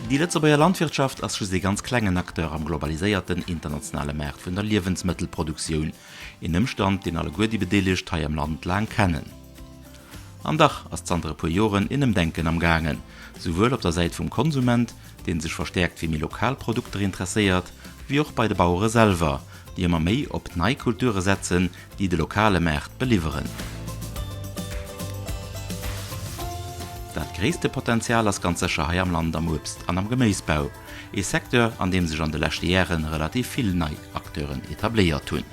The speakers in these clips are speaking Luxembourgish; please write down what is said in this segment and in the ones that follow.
Déi Lëtzebuerger Landwirtschaft ass just ee ganz klengen Acteur am globaliséierten internationale Maart vun der Liewensmëttelproduktioun, een Ëmstand, deen alleguer déi Bedeelegt hei am Land laang kennen. An dach ass zanter e puer Joren een Emdenken am gaangen, souwuel op der Säit vum Konsument, deen sech verstäerkt fir méi lokal Produkter interesséiert, wéi och bei de Bauere selwer, déi ëmmer méi op nei Kulture setzen, déi de lokale Maart beliwweren. Dat gréisste Potenzial ass ganz sécher hei am Land am Uebst an am Geméisbau, ee Secteur, an deem sech an de leschte Jaren relativ vill nei Acteuren etabléiert hunn.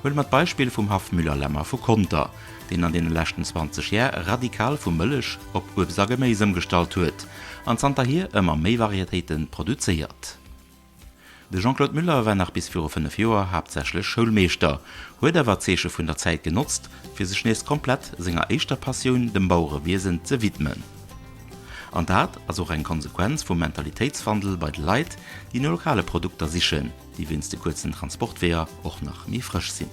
Huele mer d'Beispill vum Haff Müller-Lemmer vu Conter, deen an deene leschten 20 Jar radikal vu Mëllech op Uebst a Geméis ëmgestallt huet an zanterhier ëmmer méi Varietéite produzéiert. De Jean-Claude Müller war nach bis viru 5 Joer haaptsächlech Schoulmeeschter, huet awer d'Zeeche vun der Zäit genotzt, fir sech nees komplett senger éischter Passioun, dem Bauerewiesen, ze widmen. An dat ass och eng Konsequenz vum Mentalitéitswandel bei de Leit, déi no lokale Produkter sichen. déi wéinst de kuerzen Transportweeër och nach méi frësch sinn.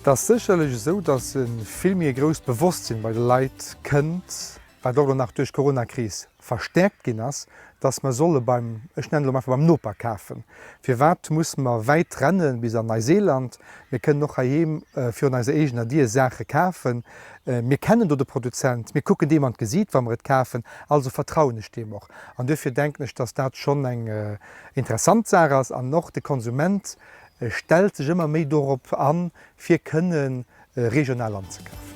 Et ass sécherlech esou, datt e vill méi e grousst Bewosstsinn bei de Leit kënnt, wat och elo nach duerch d'Corona-Kris verstäerkt ginn ass, datt mer solle beim, ech nennen et elo mol einfach, beim Noper kafen. Firwat musse mer wäit renne bis an Neiseeland? Mir kënnen och heiheem virun eiser eegener Dier Saache kafen. Mir kennen do de Produzent, mir kucken deem an d'Gesiit, wa mer et kafen. Also vertrauen ech deem och. An duerfir denken ech, datt dat schonn eng. Interessant Saach ass, an och de Konsument stellt sech ëmmer méi dorop an, fir kënne regional anzekafen.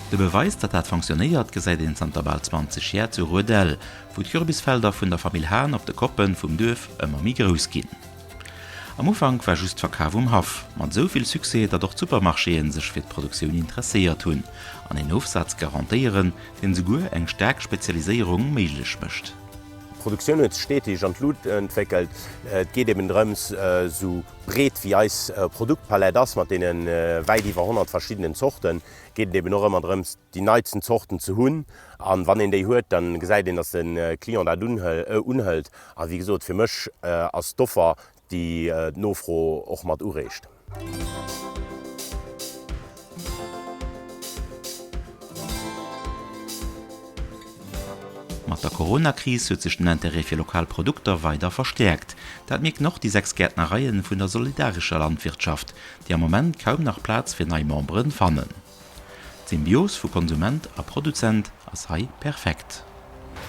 De Beweis, datt dat fonctionnéiert, gesäit een zanter bal 20 Jär zu Ruedel, wou d'Kürbisfelder vun der Famill Hahn op de Koppe vum Duerf ëmmer méi grouss ginn. Am Ufank war just Verkaf um Haff, mat esou vill Succès, datt och d'Supermarchéë sech fir d'Produktioun interesséiert hunn an een Ofsaz garantéieren, Deen esouguer eng staark Spezialiséierung méiglech mécht. D'Produktioun huet sech stetig an d'Lut entwéckelt. Et geet eben drëms, esou breet wéi eis Produktpalett ass, mat deene wäit iwwer 100 verschiddenen Zorten, geet et eben och ëmmer drëms, déi neitsten Zorten ze hunn. A wann een déi huet, da gesäit een, dass de Client dat unhëlt. A wéi gesot, fir mech ass d'Offer déi d'Nofro och mat ureegt. Mat der Corona-Kris huet sech den Interêt fir lokal Produkter weider verstäerkt. Dat mierken och déi 6 Gäertnereien vun der solidarescher Landwirtschaft, déi am Moment kaum nach Plaz fir nei Memberen fannen. D'Symbios vu Konsument a Produzent ass hei perfekt.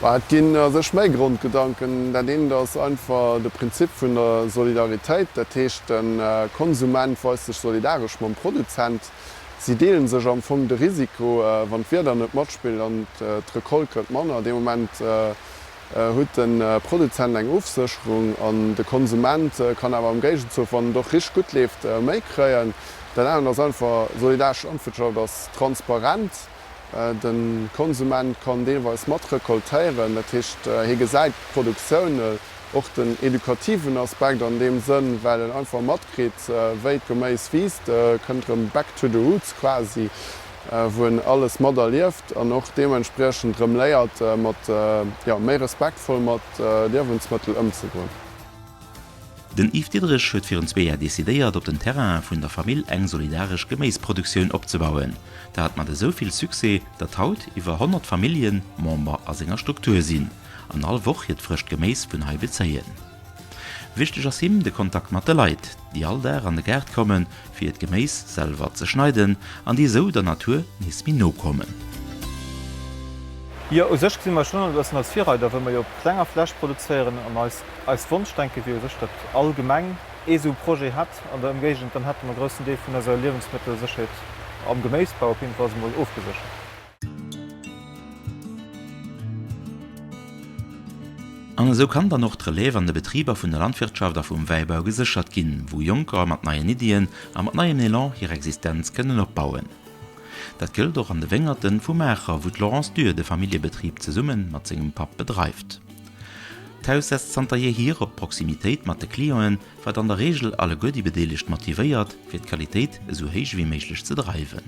Mä et ginn a sech méi Grondgedanken. Dat eent ass einfach de Prinzip vun der Solidaritéit. Dat heescht, de Konsument weist sech solidaresch mam Produzent. Si deele sech am Fong de Risiko, wann d'Wieder net matspillt an d'Recolte gëtt manner. Dee Moment. huet de Produzent eng Ofsécherung an de Konsument kann awer am Géigenzuch, wann et och richteg gutt leeft, méi kréien. Dat anert ass einfach, solidaresch Landwirtschaft ass transparent, de Konsument kann deelweis mat recoltéieren, dat heescht hie gesäit d'Produktioun, och den edukativen Aspekt an deem Sënn, well en einfach matkritt, wéi d'Geméis wiisst, kënnt erëm back to the roots quasi. wou en alles materlieft an och deementspriechend erëm léiert mat méi respektvoll mat Liewensmëttel ëmzegoen. Den Yves Diederich huet virun zwee Jar decidéiert op den Terrainen vun der Famill eng solidaresch Geméisproduktioun opzebauen. Dat mat esou vill Succès, datt haut iwwer 100 Familljen Member a senger Struktur sinn an all Woch hiert frëscht Geméis vun hei bezéien. Wichteg ass him de Kontakt mat de Leit, déi all Dag an de Gaart kommen, fir hiert Geméis selwer ze schneiden, an déi esou der Natur nees méi no kommen. Jo, u sech gesi mer schonn e bëssen als Virreider, well mer jo op klenger Fläch produzéieren. An eist Wonschdenke wier u sech, datt all Gemeng ee esou Projet hätt an der Ëmgéigend. Dann hätte mer e groussen Deel vun eiser Liewensmëttelsécherheet am Geméisbau op jiddenfalls emol ofgeséchert. An esou kann dann och d'Relève an de Betriber vun der Landwirtschaft a vum Wäibau geséchert ginn, wou Jonker mat neien Iddien a mat neiem Elan hir Existenz kënnen opbauen. Dat gëllt och an de Wéngerten vu Maacher, wou d'Laurence Dürr de Familljebetrib zesumme mat sengem Papp bedreift. D'Haus setzt zanter jeehier op d'Proximitéit mat de Clienten, wat an der Reegel alleguer déi Bedeelegt motivéiert, fir d'Qualitéit esou héich ewéi méiglech ze dreiwen.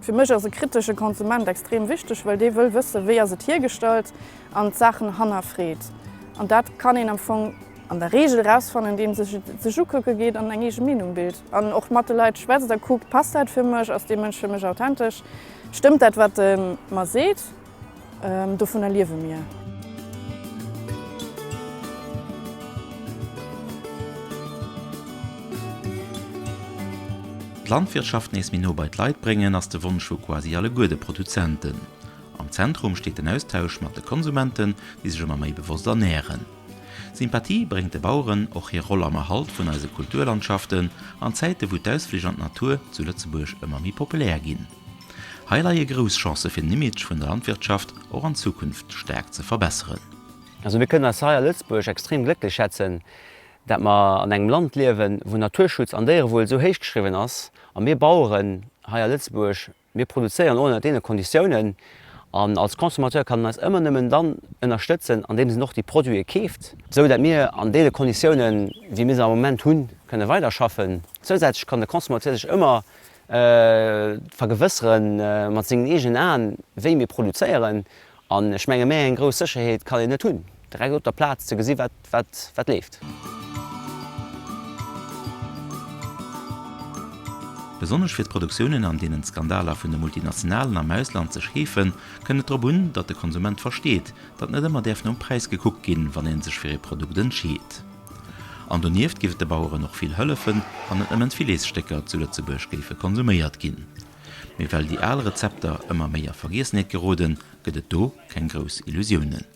Fir mech ass e kritesche Konsument extrem wichteg, well dee wëll wëssen, wéi ass et hiergestallt an d'Saachen hannerfreet. An dat kann een am Fong an der Reegel erausfannen, indeems ee et sech ukucke geet an eng eege Meenung bilt an och mat de Leit schwätzt a kuckt, Passt dat fir mech? Ass dee Mënsch fir mech authentesch? Stëmmt dat, wat e mer seet? Dovunner liewe mir. D'Landwirtschaft nees méi no bei d'Leit bréngen, ass de Wonsch vu quasi alleguer de Produzenten. Am Zentrum steet den Austausch mat de Konsumenten, déi sech ëmmer méi bewosst ernären. Sympathie bréngt de Baueren och hir Roll am Erhalt vun eise Kulturlandschaften an Zäite wou d'Ausflich an d'Natur zu Lëtzebuerg ëmmer méi populär ginn. Hei leie grouss Chancë fir den Image vun der Landwirtschaft och an Zukunft staark ze verbesseren. Also mir kënnen eis hei a Lëtzebuerg extrem glécklech schätzen, dat mer an engem Land liewen, wou Naturschutz an Déierewuel esou héich geschriwwen ass. A mir Baueren hei a Lëtzebuerg, mir produzéieren och ënnert deene Konditiounen. An als Consommateur kann een eis ëmmer nëmmen dann ënnerstëtzen, andeems en och déi Produite keeft. Esou dat mir an deene Konditiounen, wéi mir se am Moment hunn, kënne weiderschaffen. Zousätzlech kann de Consommateur sech ëmmer vergewëssere mat sengen eegenen Aen, wéi mir produzéieren. An ech menge méi eng grouss Sécherheet kann een net hunn, direkt op der Plaz ze gesi wat leeft. Besonnesch fir d'Produktiounen, an deenen d'Skandaler vun de Multinationalen am Ausland sech heefen, kënn et drop un, datt de Konsument versteet, datt net ëmmer däerf nom Präis gekuckt ginn, wann ee sech fir ee Produkt entscheet. An donieft géif et de Baueren och vill hëllefen, wann net nëmmen d'Filetsstécker zu Lëtzebuerg géife konsuméiert ginn. Mee well déi al Rezepter ëmmer méi a Vergiessenheet geroden, gëtt et do keng grouss Illusiounen.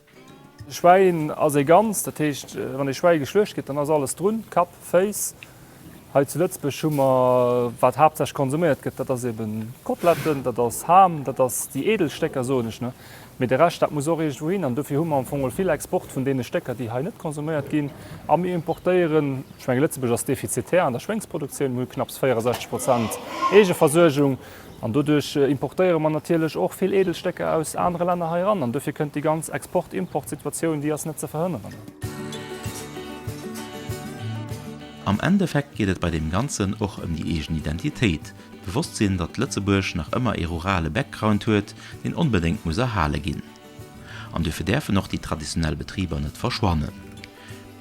De Schwäin ass ee Ganzt, dat heescht, wann ee Schwäi geschluecht gëtt, dann ass alles drun, Kapp, Féiss. Hei zu Lëtzebuerg hu mer, wat haaptsächlech konsuméiert gëtt, dat ass eben d'Koteletten, dat ass Ham, dat ass déi edel Stécker, soen ech, Mee de Rescht, dat muss och iergendwou hin. An dofir hu mer am Fong geholl vill Export vun deene Stécker, déi hei net konsuméiert ginn. A mir importéieren, ech mengen Lëtzebuerg ass defizitär an der Schwéngsproduktioun, mir hu knapps 64 Prozent Eegeversuergung. An doduerch importéiere mer natierlech och vill Eedelstécker aus anere Länner hei eran. An dofir kënnt déi ganz Export-Import-Situatioun, déi ass net ze verhënneren. Am Endeffekt geet et bei deem Ganzen och ëm déi eegen Identitéit. Bewosst sinn, datt Lëtzebuerg nach ëmmer ee rurale Background huet, deen onbedéngt muss erhale ginn. An duerfir däerfen och déi traditionell Betriber net verschwannen.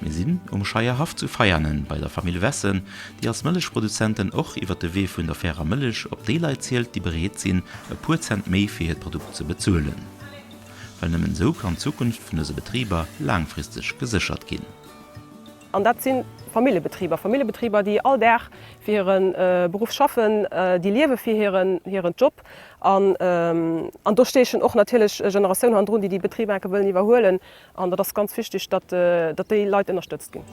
Mir sinn um Scheierhaff zu Veianen bei der Famill Wessen, déi als Mëllechproduzenten och iwwer de Wee vun der fairer Mëllech op déi Leit zielt, déi bereet sinn, e puer Cent méi fir hiert Produkt ze bezuelen. Well nëmmen esou kann d'Zukunft vun dëse Betriber laangfristeg geséchert ginn. An dat si Familljebetriber. Familljebetriber, déi all Dag fir hire Beruff schaffen, déi liewe fir hiren Job. An do steechen och natierlech Generatiounen hannendrun, déi déi Betriber enke wëllen iwwerhuelen. An dat ass ganz wichteg, datt déi Leit ënnerstëtzt ginn.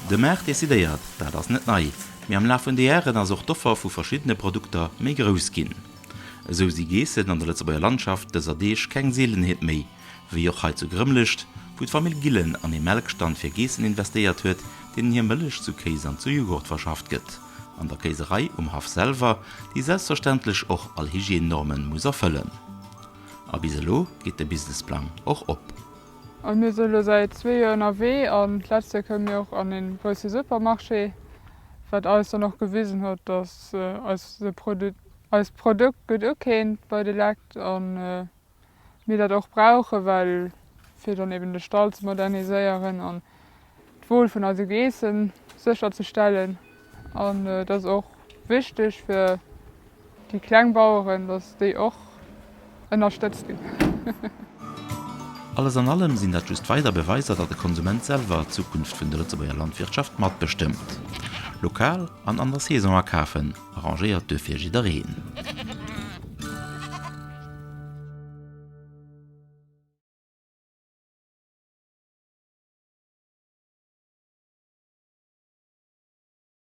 De Maart decidéiert, dat ass net nei, mee am Laf vun de Jaren ass och d'Offer vu verschiddene Produkter méi grouss ginn. Esou si Geessen an der Lëtzebuerger Landschaft dëser Deeg keng Seelenheet méi. Wéi och hei zu Grëmmlescht, wou d'Famill Gillen an ee Melkstand fir Geessen investéiert huet, deenen hir Mëllech zu Kéis an zu Jughurt verschafft gëtt, an der Kéiserei um Haff selwer, déi selbstverständlech och all Hygiène-Normen muss erfëllen. A bis elo geet de Businessplang och op. A mir si elo säit zwee Joer ënnerwee an d'lescht Joer koume mir och an ee grousse Supermarché, wat eis dann och gewisen huet, dass eise Produkt, eist Produkt gutt ukéint bei de Lekt. mir dat och brauchen, well fir dann eben de Stall ze moderniséieren an d'Wuel vun eise Geesse sécher ze stellen. An et ass och wichteg fir déi kleng Baueren, datt déi och ënnerstëtzt ginn. Alles an allem sinn dat just weider Beweiser, datt de Konsument selwer d'Zukunft vun der Lëtzebuerger Landwirtschaft matbestëmmt. Lokal an an der Saison akafen. Arrangéiert duerfir jiddereen.